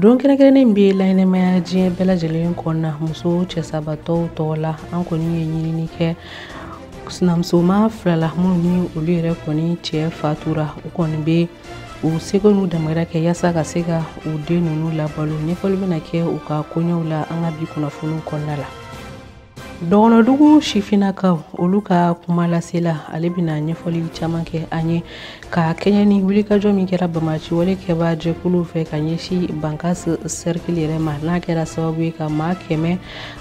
don kɛrɛnkɛrɛnnen bɛ laɲɛnamaya diɲɛ bɛɛ lajɛlen kɔnɔna muso cɛsabatɔw tɔgɔ la an kɔni ye ɲinini kɛ sinamusoma fila la minnu ni olu yɛrɛ kɔni cɛ fatura u kɔni bɛ u seko n'u damayira kɛ yaasa ka se ka u den ninnu labalo ɲɛfɔli bɛna kɛ u ka koɲɛw la an ka bi kunnafoniw kɔnɔna la dɔgɔnɔdugu sifinnakaw olu ka kuma lasela ale bɛna ɲɛfɔli caman kɛ an ye ka kɛɲɛ ni wulikajɔ min kɛra banbaanci wale kɛbaa jɛkuluw fɛ ka ɲɛsin bankasi sɛrikili yɛrɛ ma n'a kɛra sababu ye ka maa kɛmɛ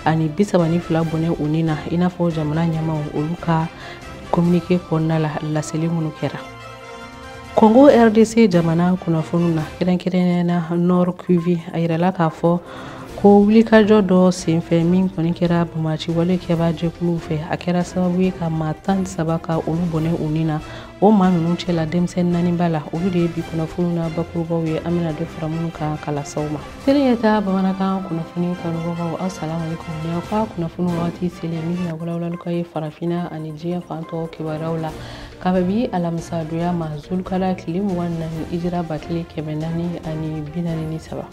ani bisaba ni fila bɔnɛ u ni na i n'a fɔ jamana ɲɛmaaw olu ka kominike kɔnɔna la laseli minnu kɛra Congo RDC jamana kunnafoniw na kɛrɛnkɛrɛnnenya na Nord Kivu a yirala k'a fɔ ko wulikajɔ dɔ senfɛ min kɔni kɛra banbaanci wale kɛbaa jɛkuluw fɛ a kɛra sababu ye ka maa tan ni saba ka olu bɔnɛ u ni na o maa ninnu cɛla denmisɛnnin naani b'a la olu de ye bi kunnafoniw na bakurubaw ye an bɛna dɔ fara minnu kan kalasaw ma selen ka taa bamanankan kunnafoni kanubagaw aw salamaleykum ni aw ka kunnafoni waati selen min bɛna walawalali k'aw ye farafinna ani diɲɛ fan tɔw kibaruyaw la ka bɛn bi alamisadonya ma zulukala tile mugan ni naani hijira ba kelen kɛmɛ naani ani binaani ni saba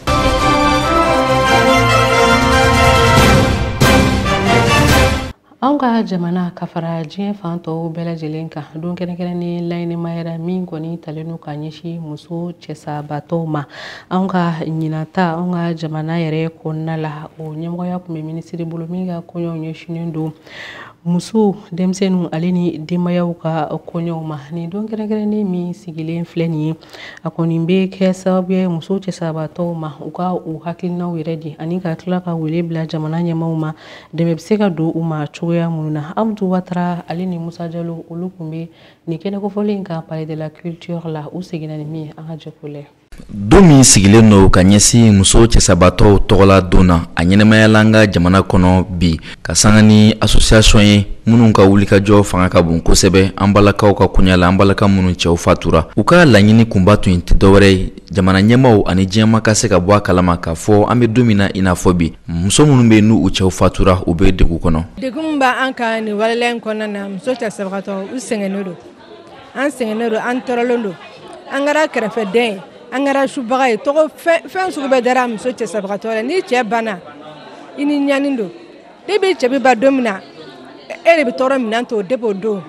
anw ka jamana ka fara diɲɛ fan tɔw bɛɛ lajɛlen kan don kɛrɛnkɛrɛnnen laɲɛnamayara min kɔni talen don ka ɲɛsin muso cɛsabatɔw ma anw ka ɲinan ta anw ka jamana yɛrɛ kɔnɔna la o ɲɛmɔgɔya tun bɛ minisiri bolo min ka koɲɛw ɲɛsinnen don musow denmisɛnninw ale ni denbayaw ka koɲɛw ma nin don kɛrɛnkɛrɛnnen min sigilen filɛ nin ye a kɔni bɛ kɛ sababu ye muso cɛsabatɔw ma u ka u hakilinaw yɛrɛ di ani ka tila ka wele bila jamana ɲɛmaaw ma dɛmɛ bɛ se ka don u ma cogoya minnu na amadu watara ale ni musa jalo olu tun bɛ nin kɛnɛ kofɔlen kan palais de la culture la u seginna ni min ye an ka jɛ k'o lɛ don min sigilen don ka ɲɛsin muso cɛsabaatɔw tɔgɔla don na a ɲɛnamayala an ka jamana kɔnɔ bi ka sanga ni asosiyasɔn ye minnu ka wulikajɔ fanga ka bon kosɛbɛ an balakaw ka koɲa la an balaka minnu cɛw fatura u ka laɲini kunba tun tɛ dɔwɛrɛ ye jamana ɲɛmaaw ani diɲɛ maa ka se ka bɔ a kalama k'a fɔ an bɛ don min na i n'a fɔ bi muso minnu bɛ n'u cɛw fatura u bɛ degun kɔnɔ degunba an ka nin wale in kɔnɔna na muso cɛsabaatɔ u sɛgɛnnen don an sɛgɛnnen don an tɔɔrɔlen don an kɛra kɛrɛfɛden ye an kɛra subaga ye tɔgɔ fɛn sugu bɛɛ dara muso cɛsabagatɔ la n'i cɛ banna i ni ɲani don de bɛ cɛ bɛ ban don min na e de bɛ tɔɔrɔ minɛn to de b'o dɔn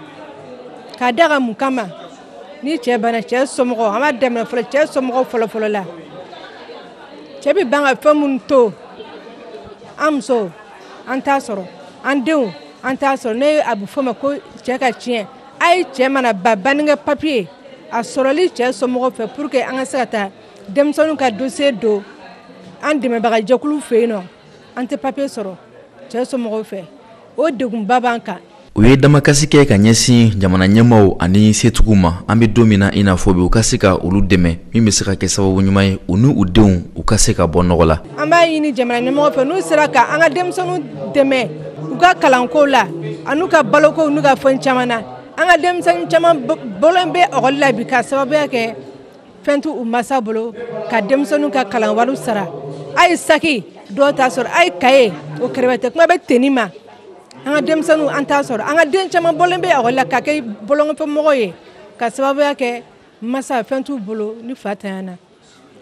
k'a da ka mun kama ni cɛ banna cɛ somɔgɔw an b'a daminɛ fɔlɔ cɛ somɔgɔw fɔlɔfɔlɔ la cɛ bɛ ban ka fɛn minnu to an musow an t'a sɔrɔ an denw an t'a sɔrɔ ne a bɛ fɔ ma ko cɛ ka tiɲɛ a ye cɛ mana ban bannikɛ papiye a sɔrɔli cɛ somɔgɔw fɛ pour que an ka se ka taa denmisɛnninw ka dossier don an dɛmɛbagajɛkulu fɛ yen nɔ an tɛ papiye sɔrɔ cɛ somɔgɔw fɛ o degunba b'an kan u ye damakasi kɛ ka ɲɛsin jamana ɲɛmaaw ani setigiw ma an bɛ don min na i n'a fɔ bi u ka se ka olu dɛmɛ min bɛ se ka kɛ sababu ɲuman ye u ni u denw u ka se ka bɔ nɔgɔ la an b'a ɲini jamana ɲɛmɔgɔw fɛ n'u sera ka an ka denmisɛnninw dɛmɛ u ka kalanko la an'u ka balokow n'u ka fɛn caman na an ka denmisɛnnin caman bɔlen bɛ ekɔli la bi ka sababuya kɛ fɛn t'u masa bolo ka denmisɛnninw ka kalan wariw sara a ye saki dɔw t'a sɔrɔ a ye kaye o kɛrɛfɛ kuma bɛ tenue ma an ka denmisɛnninw an t'a sɔrɔ an ka den caman bɔlen bɛ ekɔli la ka kɛ bɔlɔnkɔfɛmɔgɔ ye ka sababuya kɛ masa fɛn t'u bolo ni fantanya na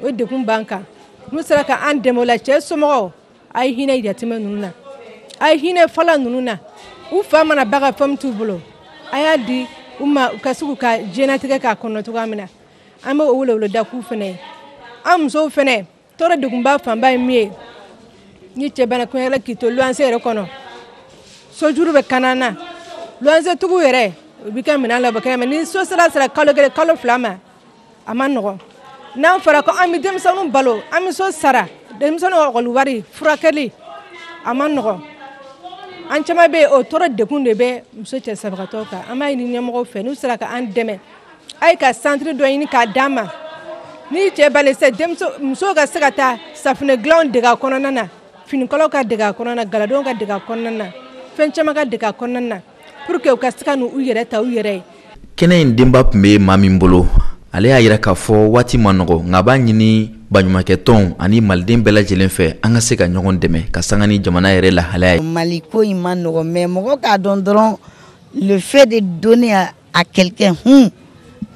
o degun b'an kan n'u sera ka an dɛmɛ o la cɛ somɔgɔw A ye hinɛ yatimɛ ninnu na a ye hinɛ fala ninnu na u fa mana ban ka fɛn t'u bolo a y'a di u ma u ka se k'u ka diɲɛlatigɛ k'a kɔnɔ cogoya min na an bɛ weleweleda k'olu fana ye an musow fana tɔɔrɔ degunba fanba ye min ye ni cɛ banna kun la k'i to luwanse yɛrɛ kɔnɔ sojuru bɛ kan na luwansetigiw yɛrɛ u bɛ ka minɛn labɔ kɛnɛ ma ni so sara sera kalo kelen kalo fila ma a ma nɔgɔ n'a fɔra ko an bɛ denmisɛnninw balo an bɛ so sara denmisɛnninw ekɔli wari furakɛli a ma nɔgɔ an caman bɛ yen o tɔɔrɔ degun de bɛ muso cɛsabagatɔw kan an b'a ɲini ɲɛmɔgɔw fɛ n'u sera ka an dɛmɛ a ye ka santiri dɔ ɲini k'a d'an ma ni cɛ bali sɛ musow ka se ka taa safinɛ dilanw dege a kɔnɔna na finikalaw ka dege a kɔnɔna na galadonw ka dege a kɔnɔna na fɛn caman ka dege a kɔnɔna na Pour que u ka se ka n'u yɛrɛ ta u yɛrɛ ye. Kɛnɛ in denba tun bɛ maa min bolo, ale y'a yira k'a fɔ waati ma nɔgɔ, nka a b'a ɲini baɲumankɛtɔnw ani Maliden bɛɛ lajɛlen fɛ, an ka se ka ɲɔgɔn dɛmɛ ka sanga ni jamana yɛrɛ lahalaya ye. Mali ko in ma nɔgɔ mais mɔgɔ k'a dɔn dɔrɔn le fait de donner à, à quelqu'un hun,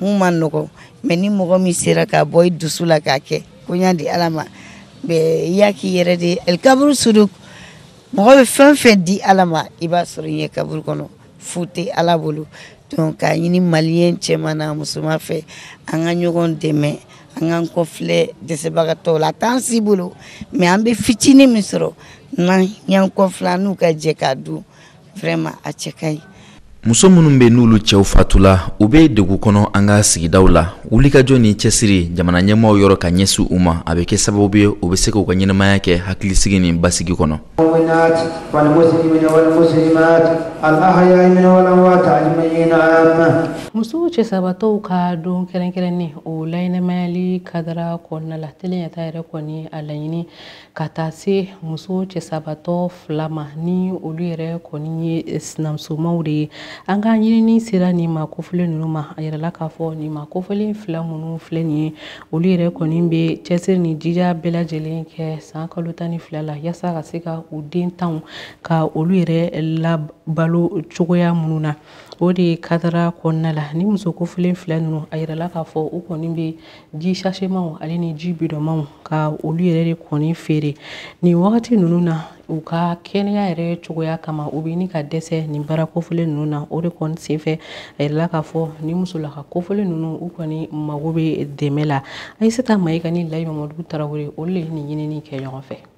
hun ma nɔgɔ mais ni mɔgɔ min sera ka bɔ i dusu la k'a kɛ, ko n y'a di Ala ma, bɛɛ i y'a k'i yɛrɛ de ye. El kaburu suduk mɔgɔ bɛ fɛn fɛn di ala ma i b'a sɔrɔ i ɲɛ kaburu kɔnɔ fu tɛ ala bolo donc k'a ɲini maliyɛn cɛman n'a musoman fɛ an ka ɲɔgɔn dɛmɛ an k'an kɔfilɛ dɛsɛbagatɔw la a t'an si bolo mais an bɛ fitinin min sɔrɔ n'an y'an kɔfilɛ an n'u ka jɛ k'a dun vraiment a cɛ ka ɲi muso minnu bɛ n'olu cɛw fatula u bɛ degun kɔnɔ an ka sigidaw la wulikajɔ ni cɛsiri jamana ɲɛmaaw yɔrɔ ka ɲɛsin u ma a bɛ kɛ sababu ye u bɛ se k'u ka ɲɛnamaya kɛ hakilisigi ni basigi kɔnɔ muso cɛsabatɔw ka don kɛrɛnkɛrɛnnen o laɲɛnamayali kadara kɔnɔna la teliyata yɛrɛ kɔni a laɲini ka taa se muso cɛsabatɔ fila ma ni olu yɛrɛ kɔni ye sinamusomaw de ye an ka ɲinini sera nin maa kofɔlen ninnu ma a yirala k'a fɔ nin maa kofɔlen fila minnu filɛ nin ye olu yɛrɛ kɔni bɛ cɛsiri ni jija bɛɛ lajɛlen kɛ san kalo tan ni fila la yasa ka se ka u den tanw ka olu yɛrɛ labalo cogoya minnu na o de kadara kɔnɔna la nin muso kofɔlen fila ninnu a yirala k'a fɔ u kɔni bɛ ji sashemaw ale ni ji bidɔnmaw ka olu yɛrɛ de kɔni feere nin wagati ninnu na u ka kɛnɛya yɛrɛ cogoya kama u bɛ ɲini ka dɛsɛ nin baara kofɔlen ninnu na o de kɔni senfɛ a yirala k'a fɔ nin musolaka kofɔlen ninnu u kɔni mago bɛ dɛmɛ la ayisata mayiga ni layi mamadu tarawele olu de ye nin ɲinini kɛ ɲɔgɔn fɛ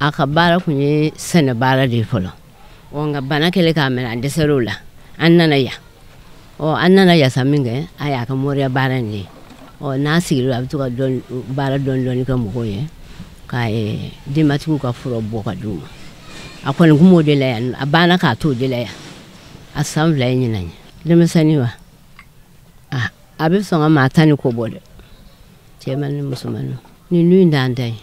a ka baara kun ye sɛnɛ baara de ye fɔlɔ ɔ nka bana kɛlen k'a minɛ a dɛsɛr'o la an nana yan ɔ an nana yan sa min kɛ a y'a ka moriya baara in de ye ɔ n'a sigira a bɛ to ka baara dɔɔni dɔɔni kɛ mɔgɔw ye ka denbatigiw ka fura bɔ ka d'u ma a kɔni kun b'o de la yan a banna k'a to o de la yan a san fila ye ɲinan ye denmisɛnnin wa a bɛ sɔn ka maa tan ni ko bɔ dɛ cɛman ni musoman ni nun dan dan ye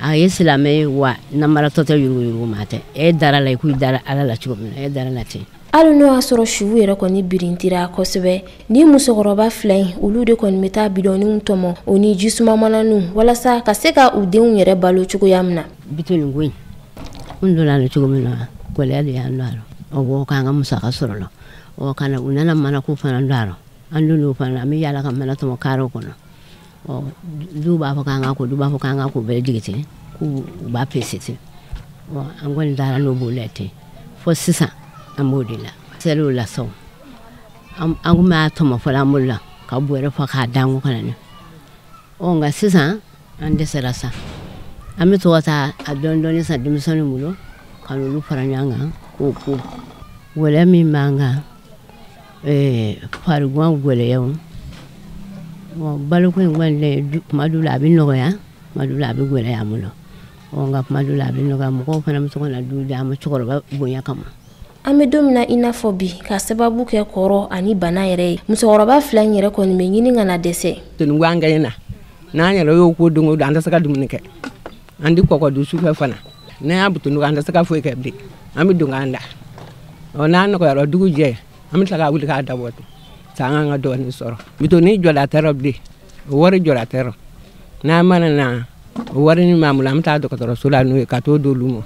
a ye silamɛ ye wa namaratɔ tɛ yuruguyurugu maa tɛ e dara la i k'i dara ala la cogo min na e dara la ten hali n'o y'a sɔrɔ suw yɛrɛ kɔni birintira kosɛbɛ ni musokɔrɔba fila in olu de kɔni bɛ taa bidɔninw tɔmɔ o ni jisuma mananinw walasa ka se ka u denw yɛrɛ balo cogoya min na bidɔnin ko in n donna la cogo min na gɛlɛya de y'an don a la o b'o k'an ka musaka sɔrɔ la ɔ kana u nana manako fana don a la an donn'o fana an bɛ yaala ka mana tɔmɔ karew kɔnɔ dɔw b'a fɔ k'an k'a ko dɔw b'a fɔ k'an ka ko bɛɛ jigi ten k'u u b'a pese ten an kɔni taara n'o b'o la ten fo sisan an b'o de la seliw la sɔn an kun b'a tɔmɔ fɔlɔ an bolo la ka bɔrɛ fa k'a d'an kun ka na n'a ɔ nka sisan an dɛsɛra sa an bɛ to ka taa a dɔɔni dɔɔni san denmisɛnninw bolo ka n'olu fara ɲɔgɔn kan k'o ko gɛlɛya min b'an kan eh, farigan gɛlɛyaw baloko in kɔni dɛ kuma dɔw la a bɛ nɔgɔya kuma dɔw la a bɛ gɛlɛya an bolo nka kuma dɔw la a bɛ nɔgɔya mɔgɔw fana bɛ se ka na dɔ di an ma cɛkɔrɔba bonya kama an bɛ don min na i n'a fɔ bi ka sababu kɛ kɔrɔ ani bana yɛrɛ ye musokɔrɔba fila in yɛrɛ kɔni bɛ ɲini ka na dɛsɛ toni an ka na n'an yɛrɛ y'o ko don o don an tɛ se ka dumuni kɛ an tɛ kɔkɔ dun sufɛ fana n'an y'a butun an tɛ se ka foyi kɛ bilen an bɛ don k'an da ɔ n'a nɔgɔyara dugu jɛ an bɛ tila ka wuli k'a dabɔ ten sa an k'an ka dɔɔnin sɔrɔ bidɔnin jɔda t'a rɔ bilen o wari jɔda t'a rɔ n'an mana na o wari min b'an bolo an bɛ taa dɔgɔtɔrɔso la n'o ye ka t'o d'olu ma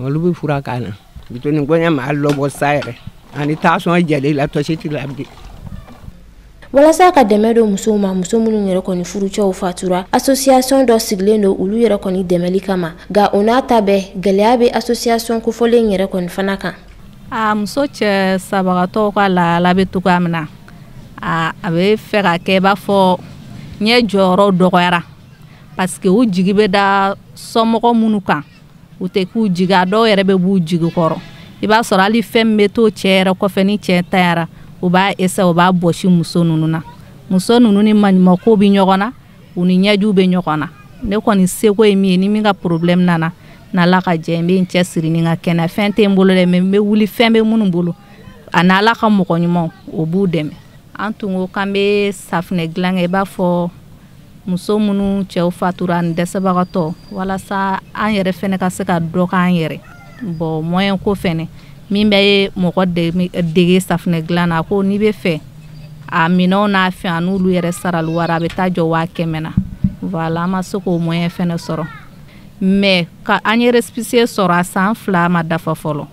olu bɛ fura k'an na bitɔni gɔɲɛ maa lɔbɔ sa yɛrɛ ani tansiyɔn jɛlen la tɔsi t'i la bilen walasa ka dɛmɛ don musow ma muso minnu yɛrɛ kɔni furucɛw fatura asosiyasɔn dɔ sigilen don olu yɛrɛ kɔni dɛmɛli kama nka o n'a ta bɛɛ gɛlɛya bɛ asosiyasɔn kofɔlen yɛrɛ kɔni fana kan muso cɛ sabagatɔw ka lahala bɛ cogoya min na a bɛ fɛ ka kɛ i b'a fɔ ɲɛ jɔyɔrɔ dɔgɔyara parce que u jigi bɛ da somɔgɔ minnu kan u tɛ k'u jigi a dɔw yɛrɛ bɛ b'u jigi kɔrɔ i b'a sɔrɔ hali fɛn min bɛ to cɛ yɛrɛ kɔfɛ ni cɛ ntanyara u b'a eseye u b'a bɔsi muso ninnu na muso ninnu ni maɲumako bɛ ɲɔgɔn na u ni ɲɛjiw bɛ ɲɔgɔn na ne kɔni seko ye min ye ni min ka porobilɛmu nana n'ala ka jɛ n bɛ n cɛ siri ni n ka kɛnɛ fɛn tɛ n bolo dɛ mɛ n bɛ wuli fɛn bɛ minnu bolo an'ala ka mɔgɔ ɲumanw o b'u dɛmɛ an tun ko k'an bɛ safinɛ dilan kɛ i b'a fɔ muso minnu cɛw fatura ani dɛsɛbagatɔ walasa an yɛrɛ fɛnɛ ka se ka dɔ k'an yɛrɛ bon mɔyɛn ko fɛnɛ min bɛ ye mɔgɔ dege safinɛ dilan na ko n'i b'a fɛ a minɛnw n'a fɛn a n'olu yɛrɛ sarali wari a bɛ taa jɔ waa kɛmɛ na voilà an ma se k'o mɔyɛn fɛnɛ sɔrɔ mɛ ka an ye récépissé sɔrɔ a san fila ma dafa fɔlɔ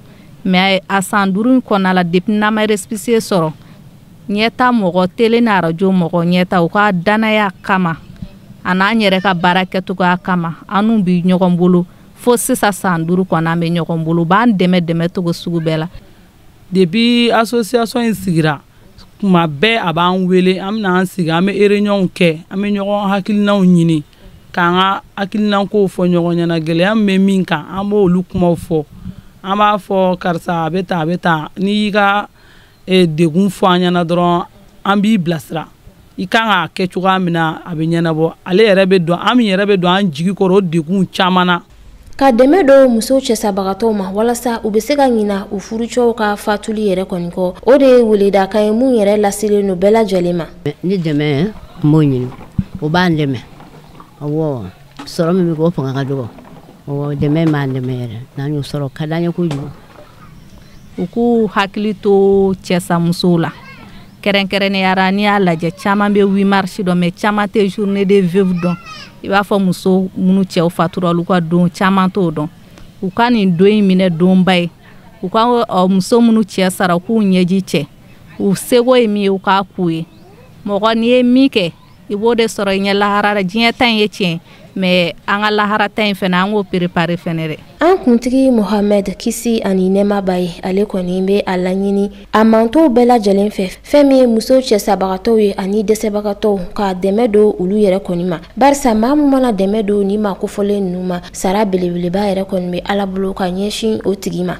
mɛ a san duuru in kɔnɔna la depuis n'an ma récépissé sɔrɔ ɲɛta mɔgɔ tele ni arajo mɔgɔ ɲɛta u ka danaya kama an'an yɛrɛ ka baara kɛcogoya kama an n'u bi ɲɔgɔn bolo fo sisan san duuru kɔnɔ an bɛ ɲɔgɔn bolo b'an dɛmɛ dɛmɛ cogo sugu bɛɛ la depuis association in sigira kuma bɛɛ a b'an wele an bɛ na an sigi an bɛ réunion kɛ an bɛ ɲɔgɔn hakilinaw ɲini k'an ka hakilinankow fɔ ɲɔgɔn ɲɛna gɛlɛya min bɛ min kan an b'olu kumaw fɔ an b'a fɔ karisa a bɛ tan a bɛ tan n'i y'i ka degun fɔ an ɲɛna dɔrɔn an b'i bilasira i kan k'a kɛ cogoya min na a bɛ ɲɛnabɔ ale yɛrɛ bɛ don an min yɛrɛ bɛ don an jigi kɔrɔ o degun caman na ka dɛmɛ don musow cɛsabagatɔw ma walasa u bɛ se ka ɲina u furucɛw ka fatuli yɛrɛ kɔni kɔ o de ye weledakan ye min yɛrɛ laselen don bɛɛ lajɛlen ma ni dɛmɛ n b'o ɲini o b'an dɛmɛ awɔ sɔrɔ min bɛ kɛ o fanga ka dɔgɔ awɔ dɛmɛ b'an dɛmɛ yɛrɛ n'an y'o sɔrɔ a ka d'an ye kojugu u k'u hakili to cɛsamusow la kɛrɛnkɛrɛnnenyara n'i y'a lajɛ caman bɛ huit mars dɔn mɛ caman tɛ journée des veuves dɔn i b'a fɔ muso minnu cɛw fatura olu ka don caman t'o dɔn u ka nin don in minɛ donba ye u ka muso minnu cɛ sara u k'u ɲɛji cɛ u seko ye min ye u k'a k'u ye mɔgɔ n'i ye min kɛ i b'o de sɔrɔ i ɲɛ lahara la diɲɛ ta in ye tiɲɛ mɛ an ka lahara ta in fɛnɛ an k'o perepare fɛnɛ dɛ an kuntigi mohamɛd kisi ani nɛɛma b'a ye ale kɔni bɛ a laɲini a mantɔnw bɛɛ lajɛlen fɛ fɛn min ye muso cɛsabagatɔw ye ani dɛsɛbagatɔw ka dɛmɛ don olu yɛrɛ kɔni ma barisa maa min mana dɛmɛ don nin maa kofɔlen ninnu ma sara belebeleba yɛrɛ kɔni bɛ ala bolo ka ɲɛsin o tigi ma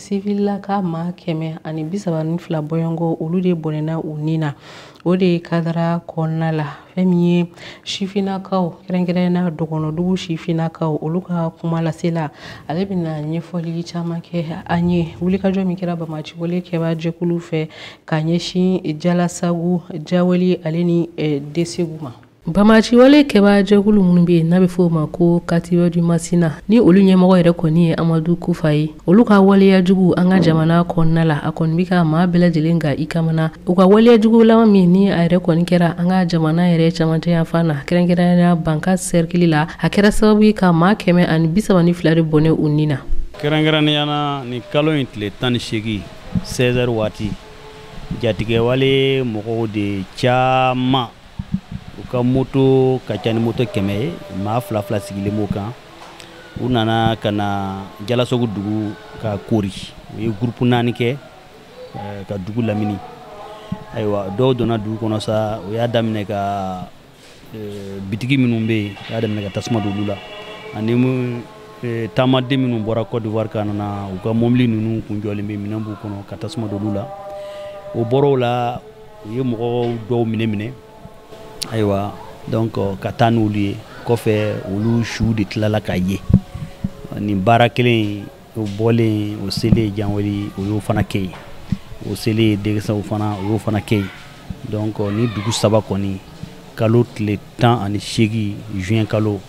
sivililaka maa kɛmɛ ani bisaba ni fila bɔɲɔgɔnko olu de bɔnɛna u ni na o de kadara kɔnɔna la fɛn min ye sifinnakaw kɛrɛnkɛrɛnna dɔgɔnɔdugu sifinnakaw olu ka kuma lasela ale bɛna ɲɛfɔli caman kɛ an ye wulikajɔ min kɛra bamaciwale kɛba jɛkulu fɛ ka ɲɛsin jalasagu janwali ale ni desegu ma bamaciwale kɛba jɛkulu minnu bɛ yen n'a bɛ fɔ o ma ko katiba du masina ni olu ɲɛmɔgɔ yɛrɛ kɔni ye amadu kufa ye olu ka waleya jugu an ka jamana kɔnɔna la a kɔni bɛ ka maa bɛɛ lajɛlen ka i kamana u ka waleya jugu laban min ni a yɛrɛ kɔni kɛra an ka jamana yɛrɛ camancɛ yanfan na kɛrɛnkɛrɛnnenya bankasi sɛrikili la a kɛra sababu ye ka maa kɛmɛ ani bisaba ni fila de bɔnɛ u ni na kɛrɛnkɛrɛnnenya na nin kalo in tile tan ni seegin 16h waati jatigɛwale mɔgɔw de caman u ka moto ka ca ni moto kɛmɛ ye maa fila fila sigilen b'o kan u nana ka na jalasogo dugu ka koori u ye gurupu naani kɛ eh, ka dugu lamini ayiwa dɔw donna dugu kɔnɔ sa u y'a daminɛ ka eh, bitigi minnu bɛ yen u y'a daminɛ ka tasuma don olu la ani eh, taamaden minnu bɔra côte d'ivoire ka nana u ka mɔbili ninnu kun jɔlen bɛ minɛn b'u kɔnɔ ka tasuma don olu la o bɔra o la u ye mɔgɔw dɔw minɛ minɛ ayiwa donc euh, ka taa n'olu ye kɔfɛ olu su de tilala ka ye nin baara kelen o bɔlen o selen janwali o y'o fana kɛ yen o selen degesaw fana o y'o fana kɛ yen donc euh, nin dugu saba kɔni kalo tile tan ani seegin juin kalo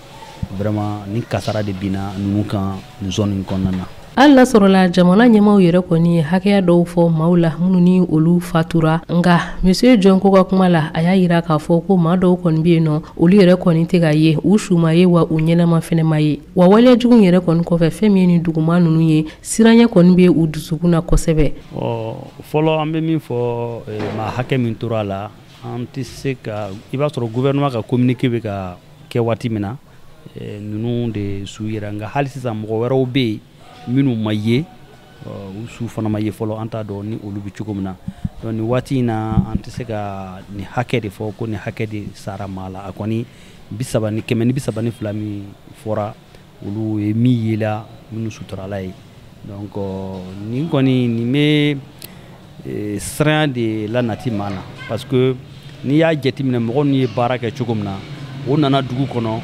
vraiment nin kasara de binna ninnu kan nin zone in kɔnɔna na hali n'a sɔrɔla jamana ɲɛmaaw yɛrɛ kɔni ye hakɛya dɔw fɔ maaw la minnu ni olu fatura nka monsieur jɔn ko ka kuma la a y'a yira k'a fɔ ko maa dɔw kɔni bɛ yen nɔ olu yɛrɛ kɔni tɛ ka ye u su ma ye wa u ɲɛnama fɛnɛ ma ye wa waleya jugu yɛrɛ kɔni kɔfɛ fɛn min ye nin dugumaa ninnu ye siranya kɔni bɛ u dusukun na kosɛbɛ fɔlɔ an bɛ min fɔ eh, maa hakɛ min tora a la an tɛ se ka i b'a sɔrɔ gouvernement ka communiqué bɛ ka kɛ waati min na eh, ninnu de su yera nka hali sisan mɔgɔ wɛrɛw bɛ yen minnu ma ye u su fana ma ye fɔlɔ an t'a dɔn ni olu bɛ cogo min na donc nin waati in na an tɛ se ka nin hakɛ de fɔ ko nin hakɛ de sara maa la a kɔni bisaba ni kɛmɛ ni bisaba ni fila min fɔra olu ye min yela minnu suturala ye donc nin kɔni nin bɛ e, siranya de la nati maa la parce que n'i y'a jateminɛ mɔgɔ ninnu ye baara kɛ cogo min na o nana dugu kɔnɔ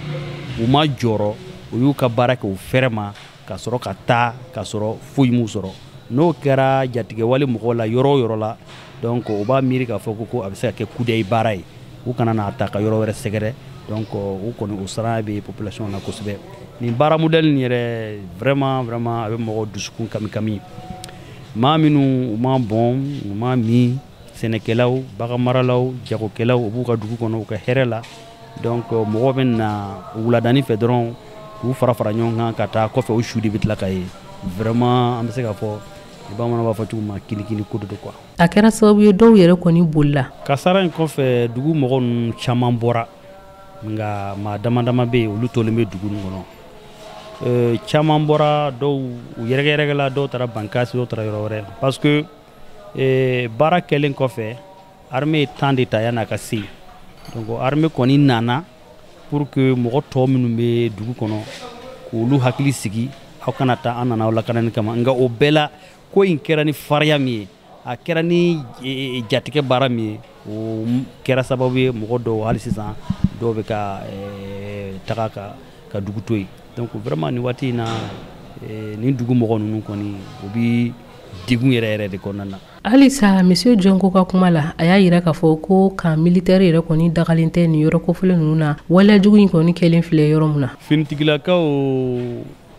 u ma jɔrɔ u y'u ka baara kɛ u fɛrɛ ma ka sɔrɔ ka taa ka sɔrɔ foyi m'u sɔrɔ n'o kɛra jatigɛwale mɔgɔw la yɔrɔ o yɔrɔ la donc u b'a miiri k'a fɔ ko ko a bɛ se ka kɛ kudayi baara ye u kana n'a ta ka yɔrɔ wɛrɛ sɛgɛrɛ donc u kɔni o siranya bɛ population na kosɛbɛ nin baara modèle nin yɛrɛ vraiment vraiment a bɛ mɔgɔ dusukun kami kami maa minnu u ma bɔn u ma min sɛnɛkɛlaw baganmaralaw jagokɛlaw u b'u ka dugu kɔnɔ u ka hɛrɛ la donc mɔgɔw bɛ na wuladani fɛ dɔrɔn k'u fara fara ɲɔgɔn kan ka taa kɔfɛ u su de bɛ tila ka ye vraiment an bɛ se ka fɔ bamanan b'a fɔ cogo ma kinikini ko de don quoi a kɛra sababu ye dɔw yɛrɛ kɔni bolila kasara in kɔfɛ dugu mɔgɔ ninnu caman bɔra nka maa dama dama bɛ yen olu tolen bɛ dugu nin kɔnɔ euh, caman bɔra dɔw u yɛrɛkɛyɛrɛkɛla dɔw taara bankasi dɔw taara yɔrɔ wɛrɛ parce que euh, baara kɛlen kɔfɛ armée ye temps de ta yan'a ka se yen donc armée kɔni nana pour que mɔgɔ tɔ minnu bɛ dugu kɔnɔ k'olu hakili sigi aw kana taa an nana aw lakanani kama nka o bɛɛ la ko in kɛra ni fariya min ye a kɛra ni e, e, jatigɛ baara min ye o kɛra sababu ye mɔgɔ dɔw hali sisan dɔw bɛ ka e, taga ka ka dugu to yen donc vraiment nin waati in na nin dugu mɔgɔ ninnu kɔni o bi degun yɛrɛ yɛrɛ de kɔnɔna na halisa monsieur Jongo ka kuma la a y'a yira k'a fɔ ko camp militaire yɛrɛ kɔni dagalen tɛ nin yɔrɔ kofɔlen ninnu na waleya jugu in kɔni kɛlen filɛ yɔrɔ min na finitigilakaw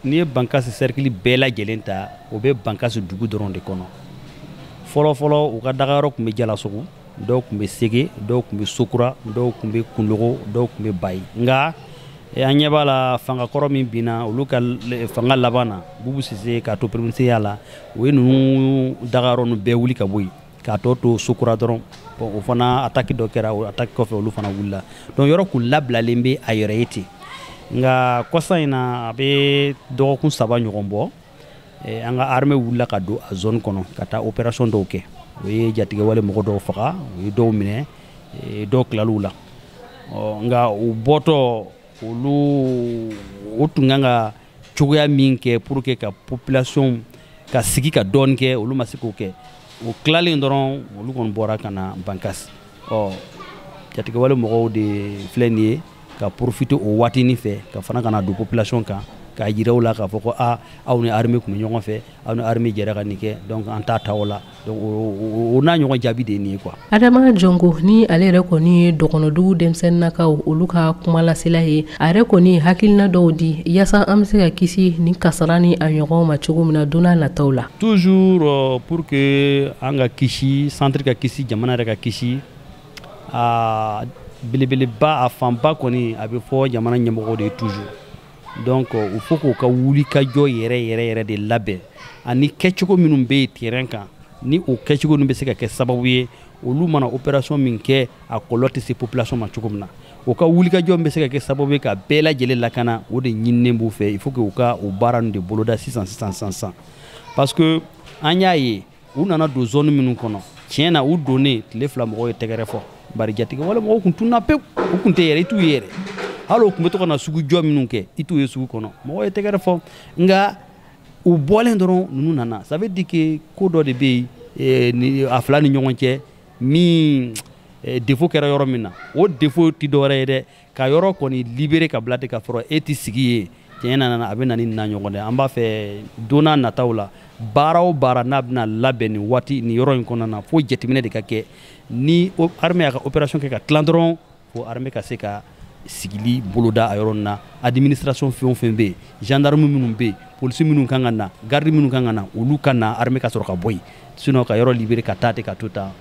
n'i ye bankasi sɛrikili bɛɛ lajɛlen ta o bɛ bankasi dugu dɔrɔn de kɔnɔ fɔlɔfɔlɔ u ka dagayɔrɔ tun bɛ jalasogo dɔw tun bɛ sege dɔw tun bɛ sokura dɔw tun bɛ kulogon dɔw tun bɛ bayi nka eh, an ɲɛ b'a la fanga kɔrɔ min binna olu ka fanga laban na bubu sise k'a to peremisiriya la u ye ninnu dagayɔrɔ ninnu bɛɛ wuli ka bɔ yen k'a tɔ to sokura dɔrɔn o fana ataki dɔ kɛra o ataki kɔfɛ olu fana wulila donc yɔrɔ kun labilalen bɛ a yɛrɛ ye ten nka kɔsa in na a bɛ dɔgɔkun saba ɲɔgɔn bɔ eh, an ka armée wulila ka don a zone kɔnɔ ka taa opération dɔw kɛ o ye jatigɛwale mɔgɔ dɔw faga u ye dɔw minɛ eh, dɔw tilal'u la nka u bɔtɔ olu u tun kan ka cogoya min kɛ pour que ka population ka sigi ka dɔɔni kɛ olu ma se k'o kɛ o tilalen dɔrɔn olu kɔni bɔra ka na bankasi ɔ jatigɛwale mɔgɔw de filɛ nin ye ka profite o waatinin fɛ ka fana ka na don population kan k'a jira u la k'a fɔ ko a aw ni armée tun bɛ ɲɔgɔn fɛ aw ni armée jɛra ka nin kɛ donc an t'a ta o la o n'a ɲɔgɔn jaabi de ye nin ye quoi Adama Jongo ni ale yɛrɛ kɔni ye dɔgɔnɔdugu denmisɛnninakaw olu ka kumalasela ye a yɛrɛ kɔni ye hakilina dɔw di yaasa an bɛ se ka kisi nin kasara ni a ɲɔgɔnw ma cogo min na don na nataw la toujours euh, pour que an ka kisi centre ka kisi jamana yɛrɛ ka kisi a belebeleba a fanba kɔni a bɛ fɔ jamana ɲɛmɔgɔw de ye toujours donc il faut k'u ka wulikajɔ yɛrɛ yɛrɛ yɛrɛ de labɛn ani kɛcogo minnu bɛ yen terrain kan ni o kɛcogo ninnu bɛ se ka kɛ sababu ye olu mana opération min kɛ a kɔlɔlɔ tɛ se population ma cogo min na u ka wulikajɔ min bɛ se ka kɛ sababu ye ka bɛɛ lajɛlen lakana o de ɲininen b'u fɛ il faut que u ka o baara ninnu de boloda sisan sisan sisan sisan parce que an y'a ye u nana don zone minnu kɔnɔ tiɲɛ na u donnen tile fila mɔgɔw ye tɛgɛrɛ fɔ bari jatigɛ wale mɔgɔw kun tunna pewu u kun tɛ yɛrɛ i t'u ye yɛrɛ hali u kun bɛ to ka na sugu jɔ minnu kɛ i t'u ye sugu kɔnɔ mɔgɔw ye tɛgɛrɛ fɔ nka u bɔlen dɔrɔn ninnu nana ça veut dire que ko dɔ de bɛ yen a fila ni ɲɔgɔn cɛ min défaut kɛra yɔrɔ min na o défaut tɛ dɔwɛrɛ ye dɛ ka yɔrɔ kɔni libérer ka bila ten ka sɔrɔ e tɛ sigi yen tiɲɛ na a bɛ na ni na ɲɔgɔn dɛ an b'a fɛ don na nataw la baara o baara n'a bɛna labɛn nin waati nin yɔrɔ in kɔnɔna na fo jateminɛ de ka kɛ ni armée y'a ka opération kɛ ka tilan dɔrɔn fo armée ka se ka sigili boloda a yɔrɔ nin na administration fɛn o fɛn bɛ yen gendarme minnu bɛ yen polisi minnu kan ka na garde minnu kan ka na olu ka na armée ka sɔrɔ ka bɔ yen sinon ka yɔrɔ libérer ka taa ten ka to tan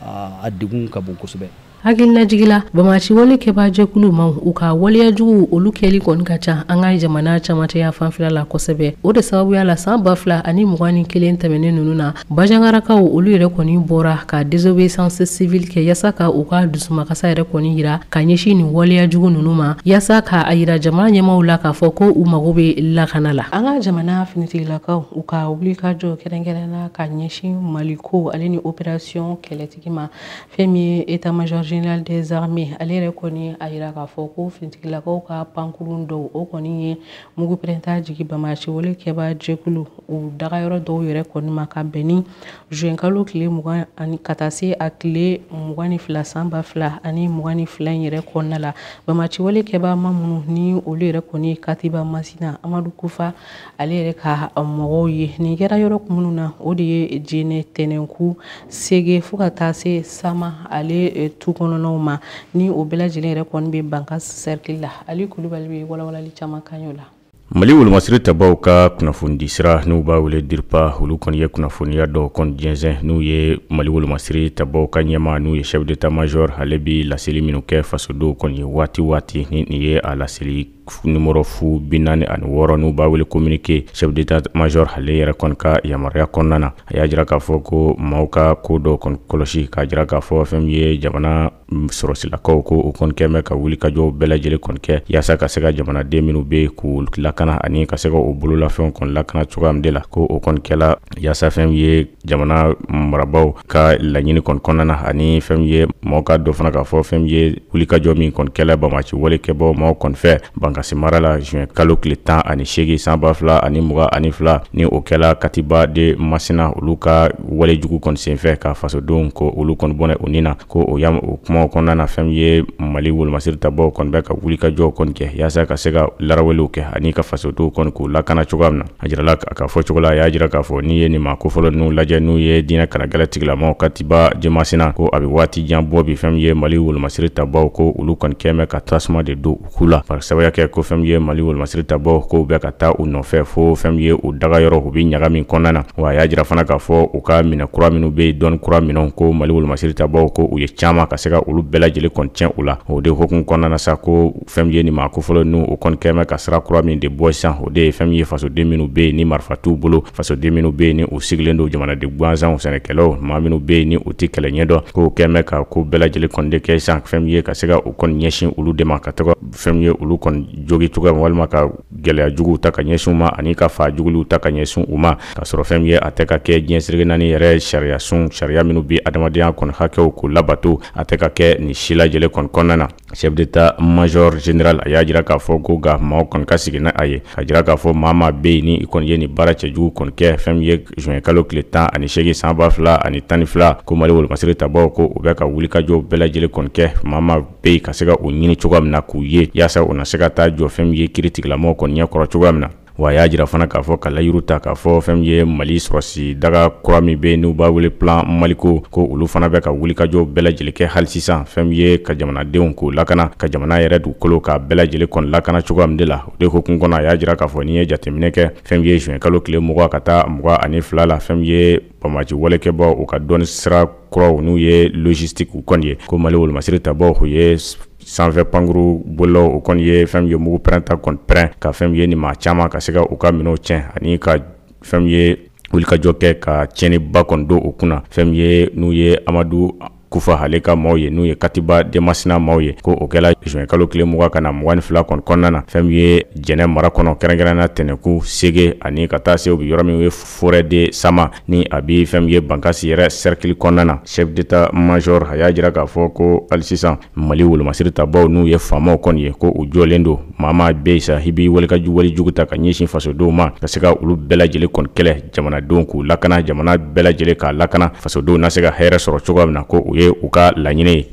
a degun ka bon kosɛbɛ hakililajigi la bamasi wale kɛbaa jɛkulu maaw u ka waleya jugu olu kɛli kɔni ka ca an ka jamana camancɛ yanfan fɛla la kosɛbɛ o de sababuya la san ba fila ani mugan ni kelen tɛmɛnen nunu na bajangarakaw olu yɛrɛ kɔni bɔra ka désobéissance civile kɛ yaasa ka u ka dusumakasa yɛrɛ kɔni yira ka ɲɛsin nin waleya jugu nunu ma yaasa ka a yira jamana ɲɛmaw la k'a fɔ ko u mago bɛ lakana la an ka jamana finitigilakaw u ka wulikajɔ kɛrɛnkɛrɛnna ka ɲɛsin maliko ale ni opération kɛlɛtigi ma fɛn min ye état major général des armées ale yɛrɛ kɔni a yira k'a fɔ ko finitigilakaw ka pankurun dɔw o kɔni ye mugu pɛrɛnta jigi bamasiwale kɛba jɛkulu u dagayɔrɔ dɔw yɛrɛ kɔni ma ka bɛn ni zuwɛnkalo tile mugan ani ka taa se a tile mugan ni fila san ba fila ani mugan ni fila in yɛrɛ kɔnɔna la bamasiwale kɛba maa minnu ni olu yɛrɛ kɔni ye katiba masina amadu kufa ale yɛrɛ ka mɔgɔw ye nin kɛra yɔrɔ minnu na o de ye jenɛ tɛnɛnku sege fo ka taa se sama ale eh, tu kɔnɔnaw ma ni o bɛɛ lajɛlen yɛrɛ kɔni bɛ bankasi sɛrikili la ali kulubali bɛ walawalali caman k'an y'o la mali wolomasiri tabaw ka kunnafonidi sira n'u b'a wele diripa olu kɔni ye kunnafoniya dɔ kɔni jɛnsɛn n'u ye mali wolomasiri tabaw ka ɲɛmaa n'o ye chef d'état major ale bi laseli minnu kɛ fasodenw kɔni ye waati waati ni nin ye a laseli numéro fu bi naani ani wɔɔrɔ n'u b'a wele communiqué chef d'état major ale yɛrɛ kɔni ka yamaruya kɔnɔna na a y'a jira k'a fɔ ko maaw ka ko dɔ kɔni kɔlɔsi k'a jira k'a fɔ fɛn min ye jamana sɔrɔsilakaw ko o kɔni kɛmɛ ka wulikajɔw bɛɛ lajɛlen kɔni kɛ yaasa ka se ka jamanaden minnu bɛ k'u lakana ani ka se ka o bololafɛnw kɔni lakana cogoya min de la ko o kɔni kɛla yaasa fɛn ye jamana marabaaw ka laɲini kɔni kɔnɔna na ani fɛn ye mɔgɔ ka dɔ fana k'a fɔ fɛn ye wulikajɔ min kɔni kɛla banbaanci walekɛbaa maaw kɔni fɛ bankasi mara la juin kalo tile tan ani segin sanba fila ani mugan ani fila ni o kɛla katiba de masina olu ka walejugu kɔni senfɛ ka fasodenw ko olu kɔni bɔnɛ u ni na ko o hukumu kɔnɔna na fɛn ye mali wolomasiri tabaw kɔni bɛ ka wulikajɔw kɔni kɛ yaasa ka se ka laraweliw kɛ ani ka fasodenw kɔni k'u lakana cogoya min na a jirala a ka fɔ cogo la a y'a jira k'a fɔ n'i ye nin maa kofɔlen ninnu lajɛ n'u ye diinɛ kannagɛlɛ tigilamaw katiba de masina ko a bɛ waati jan bɔ bi fɛn ye mali wolomasiri tabaw ko olu kɔni kɛlen bɛ ka tasuma de don u ku la bari sababuya kɛ ko fɛn ye mali wolomasiri tabaw ko u bɛ ka taa u nɔfɛ fo fɛn ye u daga yɔrɔ u bɛ ɲaga min kɔnɔna na wa a y'a jira fana k'a fɔ u ka minɛn kura minnu bɛ dɔnni kura minɛnw ko mali wolomasiri tabaw ko u ye caman ka se ka olu bɛɛ lajɛlen kɔni tiɲɛ u la o de hukumu kɔnɔna na sa ko fɛn ye nin maa kofɔlen ninnu u kɔni kɛlen bɛ ka sira kura min de bɔ sisan o de ye fɛn ye fasoden minnu bɛ yen ni marifa t'u bolo fasoden minnu bɛ yen ni u sigilen don jamanaden gansanw sɛnɛkɛlaw maa minnu bɛ yen ni u tɛ kɛlɛ ɲɛdɔn k'u kɛlen bɛ ka ko bɛɛ lajɛlen kɔni de kɛ sisan fɛn ye ka se ka u kɔni ɲɛsin olu de ma ka taga fɛn ye olu kɔni jogi cogoya walima ka gɛlɛya juguw ta ka ɲɛsin u ma ani ka faa juguliw ta ka ɲɛsin u ma ka sɔrɔ fɛn ye a tɛ ka kɛ diɲɛ seleke naani yɛrɛ sariyasun sariya minnu bɛ adamadenya kɔni hakɛw k'u labato a tɛ ka kɛ nin si lajɛlen kɔni kɔnɔna na Chef d'Etat major général a y'a jira k'a fɔ ko nka maaw kɔni ka sigi n'a ye k'a jira k'a fɔ maa maa bɛ yen ni i kɔni ye nin baara cɛjugu kɔni kɛ fɛn ye juin kalo tile tan ani segin sanba fila ani tan ni fila ko mali wolomasiri tabaw ko u bɛ ka wulikajɔ bɛɛ lajɛlen kɔni kɛ maa maa bɛ yen ka se ka u ɲini cogoya min na k'u ye yaasa u na se ka taa jɔ fɛn ye kiiritigilamaw kɔni ɲɛkɔrɔ cogoya min na wa y'a jira fana k'a fɔ ka layidu ta k'a fɔ fɛn ye mali sɔrɔsi daga kura min bɛ n'u b'a wele plan maliko ko olu fana bɛ ka wulikajɔ bɛɛ lajɛlen kɛ hali sisan fɛn ye ka jamanadenw k'u lakana ka jamana yɛrɛ dugukolo k'a bɛɛ lajɛlen kɔni lakana cogoya min de la o de hukumu kɔnɔ a y'a jira k'a fɔ n'i ye jateminɛ kɛ fɛn ye juin kalo tile mugan ka taa mugan ani fila la fɛn ye banbaanci walekɛbaw u ka dɔnni sira kuraw n'u ye logistique u kɔni ye ko Mali wolomasiri tabaaw u ye sanfɛ pankuru bolilaw u kɔni ye fɛn min ye mugu pɛrɛnta kɔni pɛrɛn ka fɛn min ye nin maa caman ka se ka u ka minɛnw tiɲɛ ani ka fɛn min ye wulikajɔ kɛ ka tiɲɛniba kɔni don u kunna fɛn min ye n'u ye Amadu Kufa ale ka maaw ye n'u ye Katiba de Masina maaw ye ko o kɛla juin kalo tile mugan ka na mugan ni fila kɔni kɔnɔna na fɛn min ye Jɛnɛ mara kɔnɔ kɛrɛnkɛrɛnnenya la Tɛnɛkun, Sege ani ka taa se u bɛ yɔrɔ min wele forêt de Sama ni a bɛ fɛn min ye Bankasi yɛrɛ cercle kɔnɔna na chef d'Etat major a y'a jira k'a fɔ ko hali sisan Mali wolomasiri tabaaw n'u ye FAMaw kɔni ye ko u jɔlen don maa maa bɛ yen sa i b'i wuli ka walejugu ta ka ɲɛsin fasodenw ma ka se ka olu bɛɛ lajɛlen kɔni kɛlɛ jamanadenw k'u lakana jamana bɛɛ lajɛlen k'a lakana fasodenw na se ka hɛrɛ sɔrɔ cogoya min na ko o ye u ka laɲini ye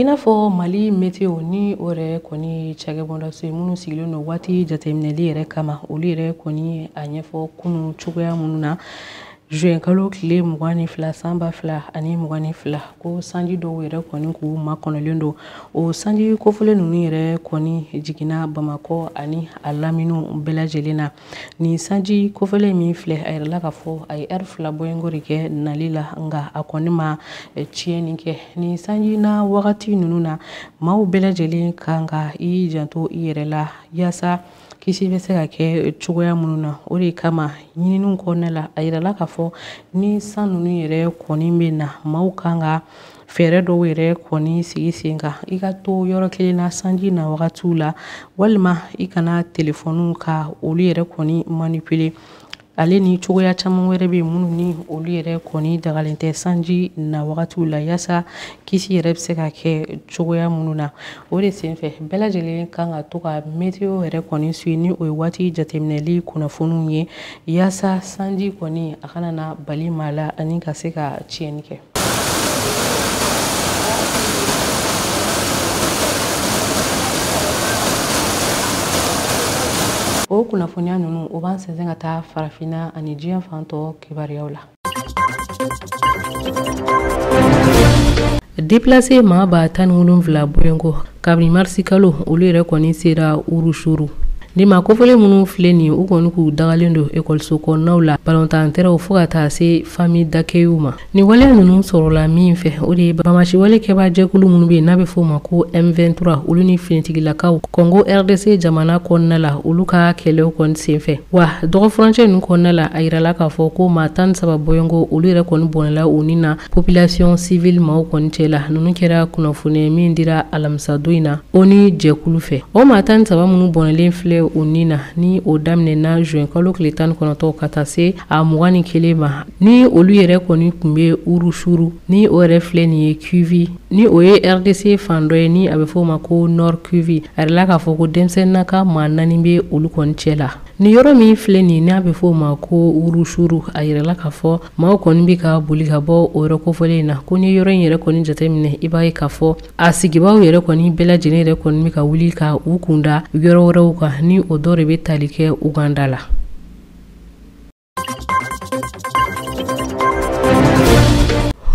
i n'a fɔ mali meteo ni o yɛrɛ kɔni cakɛbɔndaso ye minnu sigilen don waati jateminɛli yɛrɛ kama olu yɛrɛ kɔni a ɲɛfɔ kunu cogoya minnu na juin kalo tile mugan ni fila san ba fila ani mugan ni fila ko sanji dɔw yɛrɛ kɔni k'u makɔnɔlen don o sanji kofɔlen ninnu yɛrɛ kɔni jiginna bamakɔ ani a laminiw bɛɛ lajɛlen na nin sanji kofɔlen min filɛ a yirala k'a fɔ a ye ɛri fila bɔɲɔgɔnko de kɛ nali la nka a kɔni ma eh, tiɲɛni kɛ nin sanji na wagati ninnu na maaw bɛɛ lajɛlen kan ka i janto i yɛrɛ la yaasa kisi bɛ se ka kɛ cogoya minnu na o de kama ɲininiw kɔnɔna la a yirala k'a fɔ ni san ninnu yɛrɛ kɔni bɛ na maaw kan ka fɛɛrɛ dɔw yɛrɛ kɔni sigi sen kan i ka to yɔrɔ kelen na sanji na wagatiw la walima i kana telefɔniw ka olu yɛrɛ kɔni manipule ale ni cogoya caman wɛrɛ bɛ minnu ni olu yɛrɛ kɔni dagalen tɛ sanji na wagatiw la yaasa kisi yɛrɛ bɛ se ka kɛ cogoya minnu na o de senfɛ bɛɛ lajɛlen kan ka to ka meteo yɛrɛ kɔni suivre ni o ye waati jateminɛli kunnafoniw ye yaasa sanji kɔni a kana na bali maa la ani ka se ka tiɲɛni kɛ o kunnafoniya ninnu o b'an sɛnsɛn ka taa farafinna ani diɲɛ fan tɔ kibaruyaw la deplase maa ba tan ni wolonfila bɔɲɔgɔnko kabini marisi kalo olu yɛrɛ kɔni sera urusuru Nin maa kofɔlen minnu filɛ nin u kɔni k'u dagalen don ekɔliso kɔnɔnaw la balontan tɛrɛnw fo ka taa se famille d'accueilw ma nin waleya ninnu sɔrɔla min fɛ o de ye banbaanci wale kɛbaa jɛkulu minnu bɛ yen n'a bɛ f'o ma ko M23 olu ni finitigilakaw kɔngo RDC jamana kɔnɔna la olu ka kɛlɛw kɔni senfɛ wa dɔgɔ furancɛ ninnu kɔnɔna la a yirala k'a fɔ ko maa tan saba bɔɲɔgɔnko olu yɛrɛ kɔni bɔnɛla u ni na Population civile maaw kɔni cɛ la, ninnu kɛra kunnafoni min dira alamisadon in na ONU jɛkulu fɛ. O maa 13 minnu bɔnɛlen filɛ u ni na, ni o daminɛna juin kalo tile 19 ka taa se a 21 ma, ni olu yɛrɛ kɔni tun bɛ Urusuru, ni o yɛrɛ filɛ nin ye Kivu, ni o ye RDC fan dɔ ye, ni a bɛ fɔ o ma ko Nord-Kivu, a yirala k'a fɔ ko denmisɛnninnaka maa naani bɛ olu kɔni cɛ la. Nin yɔrɔ min filɛ nin n'a bɛ f'o ma ko wurusuru a yirala k'a fɔ maaw kɔni bɛ ka boli ka bɔ o yɔrɔ kofɔlen in na ko n'i ye yɔrɔ in yɛrɛ kɔni jateminɛ i b'a ye k'a fɔ a sigibaaw yɛrɛ kɔni bɛɛ lajɛlen yɛrɛ kɔni bɛ ka wuli ka u kunda yɔrɔ wɛrɛw kan ni o dɔ de bɛ tali kɛ uganda la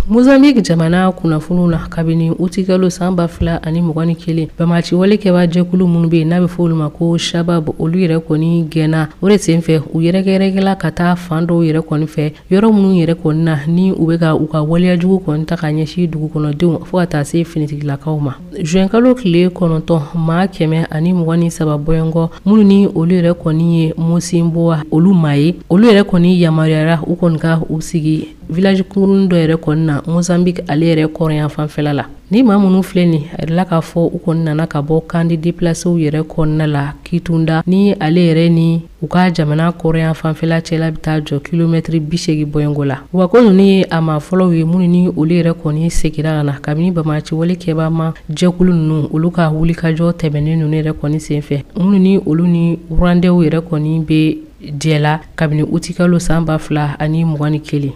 mozambique jamana kunnafoniw na kabini utikalo saan ba fila ani mugan ni kelen bamaci wale kɛba jɛkulu minnu be yen n'a be fɔ olu ma ko shabab olu yɛrɛ kɔni gɛnna o de sen fɛ u yɛrɛkɛyɛrɛkɛla ka taa fan dɔw yɛrɛ kɔni fɛ yɔrɔ minnu yɛrɛ kɔni na ni u be ka u ka waleyajugu kɔni ta ka ɲɛsi dugu kɔnɔdenw fɔɔ ka taa se finitigilakaw ma Zuwɛnkalo tile kɔnɔntɔn maa kɛmɛ ani mugan ni saba bɔɲɔgɔn minnu ni olu yɛrɛ kɔni ye mosimboa olu maa ye olu yɛrɛ kɔni yamaruyara u kɔni ka u sigi village kurunin dɔ yɛrɛ kɔni na mozambique ale yɛrɛ kɔrɔnyanfanfɛla la ni maa minnu filɛ nin a yirala k'a fɔ u kɔni nana ka bɔ camp de déplacéw yɛrɛ kɔnɔna la kitunda ni ale yɛrɛ ni u ka jamana kɔrɔnyanfanfɛla cɛla bɛ taa jɔ kilomɛtiri bisegin bɔɲɔgɔn la wa ko ninnu ye a maa fɔlɔw ye minnu ni olu yɛrɛ kɔni segira ka na kabini bamaci wale kɛba maa jɛkulu ninnu olu ka wulikajɔ tɛmɛnen ninnu yɛrɛ kɔni senfɛ minnu ni olu ni rwandɛw yɛrɛ kɔni bɛ jɛ la kabini utikalo san ba fila ani mugan ni kelen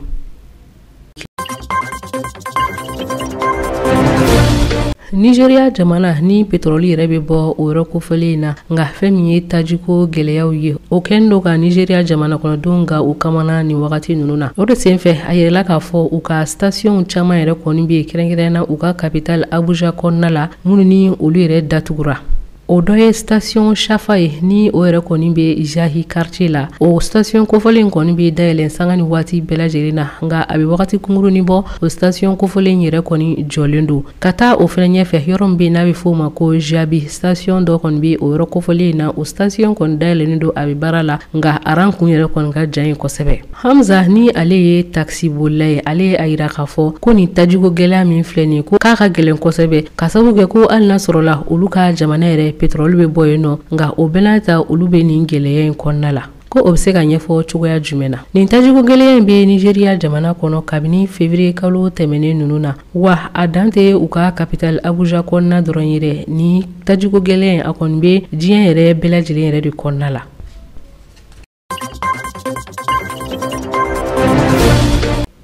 nizeriya jamana ni petrɔli yɛrɛ bɛ bɔ o yɔrɔ kofɔlen in na nka fɛn min ye tajiko gɛlɛyaw ye o kɛn do ka nizeriya jamana kɔnɔdenw gan u kamana nin wagati ninnu na o de senfɛ a yirala k'a fɔ u ka stasiyɔnw caman yɛrɛ kɔni bɛ yen kɛrɛnkɛrɛnna u ka kapital abuja kɔnɔna la minnu ni olu yɛrɛ datugura o dɔ ye station shafa ye ni o yɛrɛ kɔni bɛ jahi quartier la o station kofɔlen in kɔni bɛ dayɛlɛ sanga ni waati bɛɛ lajɛlen na nka a bɛ wagati kunkurunin bɔ o station kofɔlen in yɛrɛ kɔni jɔlen don ka taa o fana ɲɛfɛ yɔrɔ min bɛ yen n'a bɛ f'o ma ko jabi station dɔ kɔni bɛ o yɔrɔ kofɔlen in na o station kɔni dayɛlɛlen don a bɛ baara la nka a rang kun yɛrɛ kɔni ka jan yen kosɛbɛ Hamza ni ale ye takisibolila ye ale ye a jira k'a fɔ ko nin tajiko gɛlɛya min filɛ nin ye ko k'a ka gɛlɛn kosɛbɛ k'a sababu kɛ ko hali n'a sɔrɔla olu ka jamana yɛrɛ petrol bɛ bɔ yen nɔ nka o bɛɛ n'a ta olu bɛ nin gɛlɛya in kɔnɔna la ko o bɛ se ka ɲɛfɔ cogoya jumɛn na nin tajiko gɛlɛya in bɛ nizeriya jamana kɔnɔ kabini feburuye kalo tɛmɛnen ninnu na wa a dan tɛ u ka kapitali abuja kɔnɔna dɔrɔn yɛrɛ nin tajiko gɛlɛya in a kɔni bɛ diɲɛ yɛrɛ bɛɛ lajɛlen yɛrɛ de kɔnɔna la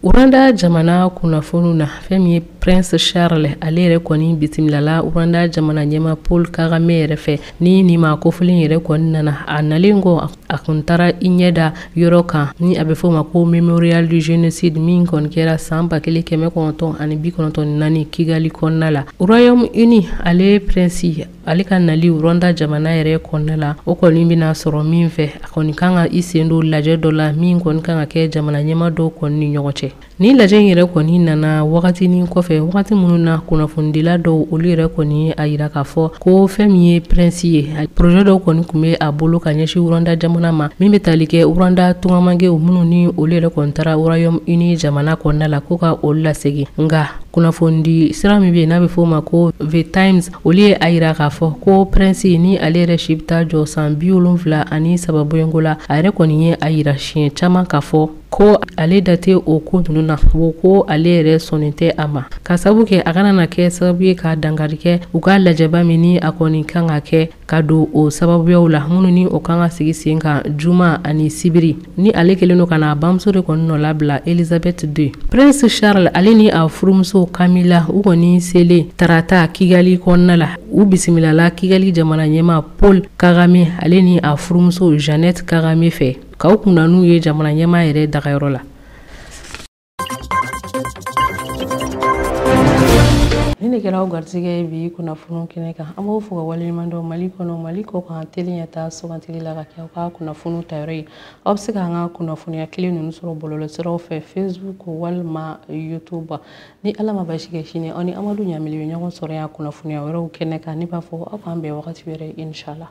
Rwanda jamana kunnafoniw na fɛn min ye prince charles ale yɛrɛ kɔni bisimilala rwanda jamana ɲɛmaa paul kagame yɛrɛ fɛ ni nin maa kofɔlen yɛrɛ kɔni nana a nalen kɔ a kun taara i ɲɛ da yɔrɔ kan ni a bɛ f'o ma ko memorial du genocide min kɔni kɛra saan ba kelen kɛmɛ kɔnɔntɔn ani bi kɔnɔntɔn naani kigali kɔnɔna la royaume uni ale prince ale ka nali rwanda jamana yɛrɛ kɔnɔna la o kɔni bɛna sɔrɔ min fɛ a kɔni kan ka i sen don lajɛ dɔ la min kɔni kan ka kɛ jamana ɲɛma dɔw kɔni ni ɲɔgɔn cɛ ni lajɛ in yɛrɛ kɔni nana wagatinin kɔfɛ wagati minnu na kunnafonidila dɔw olu yɛrɛ kɔni y'a yira k'a fɔ ko fɛn min ye prince ye projet dɔw kɔni tun bɛ a bolo ka ɲɛsin rwanda jamana ma min bɛ tali kɛ rwanda tungarankɛw minnu ni olu yɛrɛ kɔni taara royaume-uni jamana kɔnɔna la ko ka olu lasegin nka kunnafoni di sira min bɛ yen n'a bɛ f'o ma ko the times olu ye a yira k'a fɔ ko prince ni ale yɛrɛ si bɛ taa jɔ san bi wolonfila ani saba bɔɲɔgɔnko la a yɛrɛ kɔni ye a yira siɲɛ caman k'a fɔ ko ale da tɛ o ko ninnu na o ko ale yɛrɛ sɔnnen tɛ a ma k'a sabu kɛ a kana na kɛ sababu ye ka dankari kɛ u ka lajɛba min ni a kɔni kan ka kɛ ka don o sababuyaw la minnu ni o kan ka sigi sen kan juma ani sibiri ni ale kɛlen don ka na a bamuso de kɔni nɔ labila elizabeth deux prince charles ale ni a furumuso camilla u kɔni selen tarata kigali kɔnɔna la u bisimilala kigali jamana ɲɛma paul kagame ale ni a furumuso jeannette kagame fɛ ka u kunna n'u ye jamana ɲɛma yɛrɛ dagayɔrɔ la Ni ne kɛra aw garisɛgɛ ye bi kunnafoniw kɛnɛ kan an b'aw fo ka waleɲuman dɔn mali kɔnɔ mali kɔ kan tele ɲɛtaa sugandili la ka kɛ aw ka kunnafoniw tayɔrɔ ye aw bɛ se k'an ka kunnafoniya kelen ninnu sɔrɔ bɔlɔlɔsiraw fɛ facebook walima youtube ni ala ma basi kɛ sini aw ni amadu ɲamili bɛ ɲɔgɔn sɔrɔ yan kunnafoniya wɛrɛw kɛnɛ kan ne b'a fɔ aw k'an bɛn wagati wɛrɛ inshallah